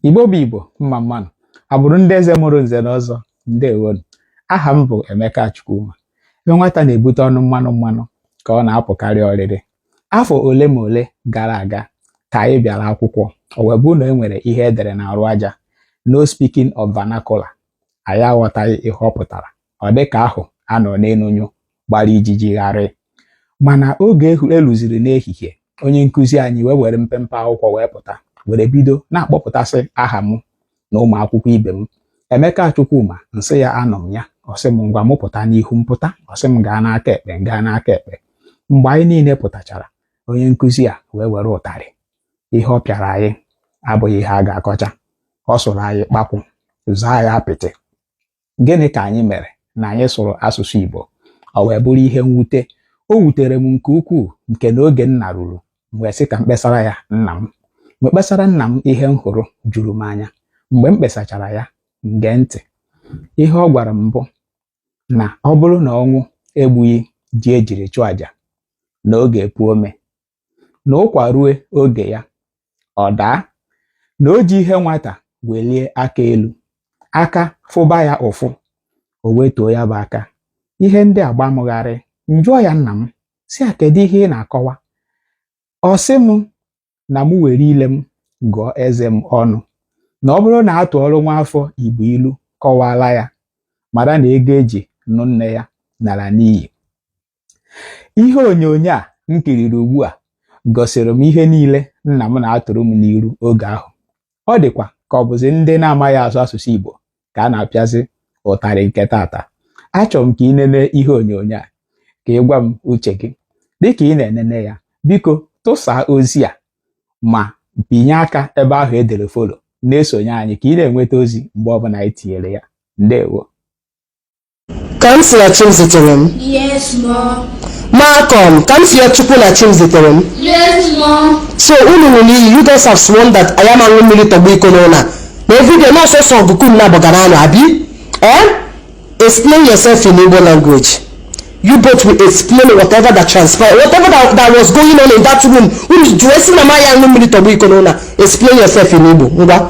igbo bụ igbo mma mmanụ agbụrụ ndị eze mụrụ nze na ọzọ ndewonu aha m bụ emeka chukwuma ebe nwata na-ebute ọnụ mmanụ mmanụ ka ọ na-apụkarị oriri afọ ole ma ole gara aga ka anyị bịara akwụkwọ o wee bụrụ na e nwere ihe e dere n'arụ aja no speaking of vernacular anyị aghọtaghị ihe ọ pụtara ọ dị ka ahụ a nọ n'elu nyụọ gbara ijiji gharị mana oge e luziri n'ehihie onye nkụzi anyị wee were mpempe akwụkwọ wee pụta were bido na-akpọpụtasị aha m na ụmụ akwụkwọ ibe m Emeka Chukwuma m sị ya anọ m ya ọ sị m ngwa m pụta n'ihu m pụta ọ sị m gaa n'aka ekpe m gaa n'aka ekpe mgbe anyị niile pụtachara onye nkụzi a wee were ụtarị ihe ọ pịara anyị abụghị ihe a ga-akọcha ọ sụrụ anyị kpakwụ zaa ya apịtị gịnị ka anyị mere na anyị sụrụ asụsụ Igbo ọ wee bụrụ ihe mwute o wutere m nke ukwuu nke na oge m naruru m wee sị ka m kpesara ya nna m m wee kpesara nna m ihe m hụrụ juru m anya mgbe m kpesachara ya ngee ntị ihe ọ gwara m bụ na ọ bụrụ na ọnwụ egbughị ji e jiri chụọ àjà na ọ ga-epu ome na ụkwa rue oge ya ọ daa na o ji ihe nwata welie aka elu aka fụba ya ụfụ o wetuo ya bụ aka ihe ndị a gba m gharị m jụọ ya nna m sị ya kedu ihe ị na-akọwa ọ sị m na m were ile m gụọ eze m ọnụ na ọ bụrụ na a tụọrọ nwa afọ igbo ilu kọwaala ya mara na ego e ji nụ nne ya nara n'iyi ihe onyonyo a m kiriri ugbu a gosiri m ihe niile nna m na-atụrụ m n'ilu oge ahụ ọ dịkwa ka ọ bụzi ndị na-amaghị asụ asụsụ Igbo ka a na-apịazi ụtarị nke taata achọrọ m ka i nene ihe onyonyo a ka ị gwa m uche gị dịka ị na-enene ya biko tụsaa ozi a ma binye aka ebe ahụ e dere follow na-esonye anyị ka ị na-enweta ozi mgbe ọbụla anyị tinyere ya ndewo Kamsi na Chimziterem. Yes, Mom. Malcolm, Kamsiyochukwu na Chimziterem. Yes, Mom. So unu ṅụrụ iyi, you guys have sworn that anyị ama ṅụ mmiri tọgbọ iko n'ụlọ a. Na everyday na ọ sọsọ ọgụ ka unu naabọ ga na-anụ abi? Eh? Explain yourself in Igbo language. You both will explain whatever that transpired, whatever that, that was going on in that room. Unu ji wee sị na m anyị aṅụ mmiri tọgbọ iko n'ụlọ a. Explain yourself in Igbo. Ngwa.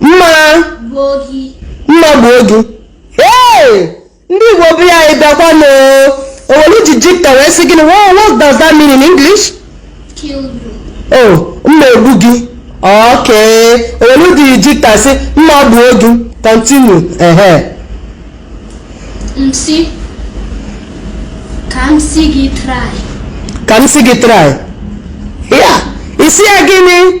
mma mma gbuo gị ee ndị igbo bụ ya anyị bịakwa na owelu ji jikta wee sị gịnị what does that mean in english oh mma egbu gị okay owelu ji jikta sị mma gbuo gị continue ehe msi kamsi gị try kamsi gị try ya isi ya gịnị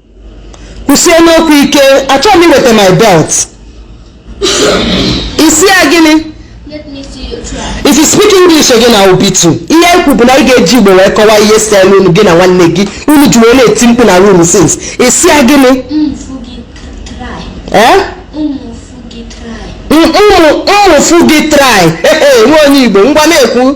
kwusie n'okwu ike achọghị m iweta my belt ị sị ya gịnị Let me see you try. if you speak english again i will beat you ihe ekwu bụ na ị ga-eji igbo wee kọwaa ihe selu unu gị na nwanne gị unu ji wee na-eti mkpu na room since ị sị ya gịnị Ụmụ fụ gị try. ee Ụmụ fụ gị try. ụmụ ụmụ fụ gị try nwa onye igbo ngwa na-ekwu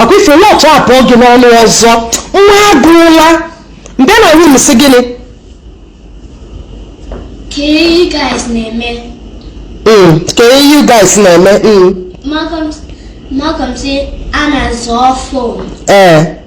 ọkwa ife nọ etu a pụọ gị n'ọnụ ọzọ m maa gị ụla mgbe na room si gịnị ka you guys na-eme hmm, ka you guys na-eme hmm. Malcolm si a na-azọ ọfụ ee eh.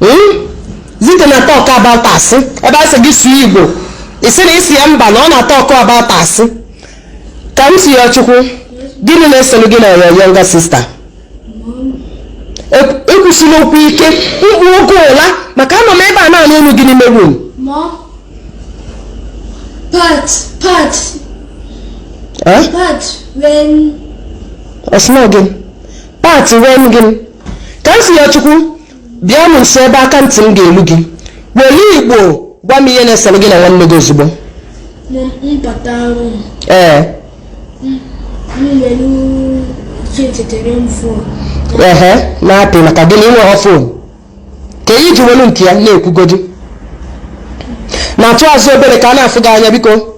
Hmm? Zite na talk about asị ebe a sị gị sụọ Igbo ị sị na ị sị ya mba na ọ na-atọkụ about asị Kamsiyochukwu gịnị na-esolu gị na your younger sister kwusie n'okwu ike m gbuo gị ụla maka anọ m ebe a na-anụ olu gị n'ime room ọ sị na gị pat wen gị Kamsiyochukwu bịa m nso ebe aka ntị m ga-elu gị were igbo gwa m ihe na-esere gị na nwanne gị ozugbo Mom, m bata room ee m were Chiziterem phone ehe na-apị maka gịnị i nweghọ phone kee ihe i ji welu nke ya na-ekwugodi naatụ azụ obere ka a na-afụ gị anya biko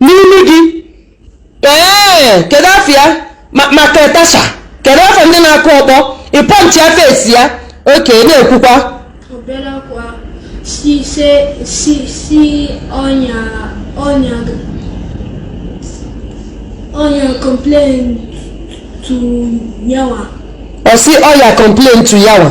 n'imi gị ee kedu afa ya Mike Tyson kedu afa ndị na-akụ ọkpọ ị punchịa face ya okay na-ekwukwa ọya complain to yawa ọ sị ọya complain to yawa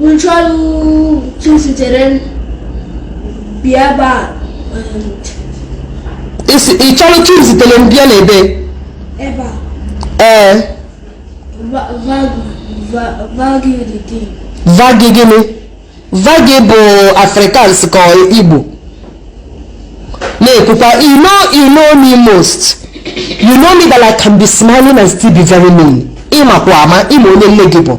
M chọlụ Chiziterem bịa ebe a. Ị chọrọ Chiziterem bịa n'ebe? Ebe a. Ee. Vagi dị dị. Vagi gịnị? Vagi bụ Afrikaans ka Igbo. Na-ekwukwa, you know, you know me most. You know me that I can be smiling and still be very mean. Ị makwa ama, ị ma onye nne gị bụ.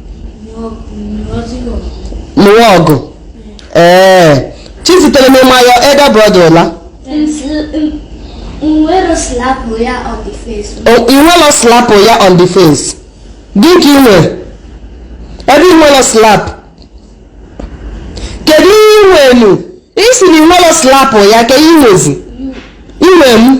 lụwa ọgụ ee Chiziterem ịma ya elder brother ụla Nwelọ slapụ ya on the face. O- i nwelọ slapụ ya on the face dị ka i nwere ebe i nwelọ slap kedu ihe i nwenu ị sị na i nwelọ slapụ ya ka i nwezi inwe m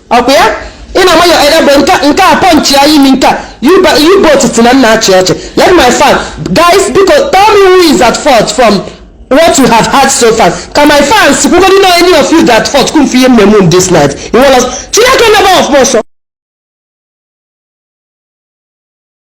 ọkwa ya ị na-ama ya anya bụ nke nke a punch ya imi nke a you both si na m na-achị ọchị let my fans guys biko tell me who is at fault from what you have heard so far ka my fans kwugodi na any of you at fault kum fi ihe mmemme m this night iwọlọs chineke nebe ọfụma ọsọ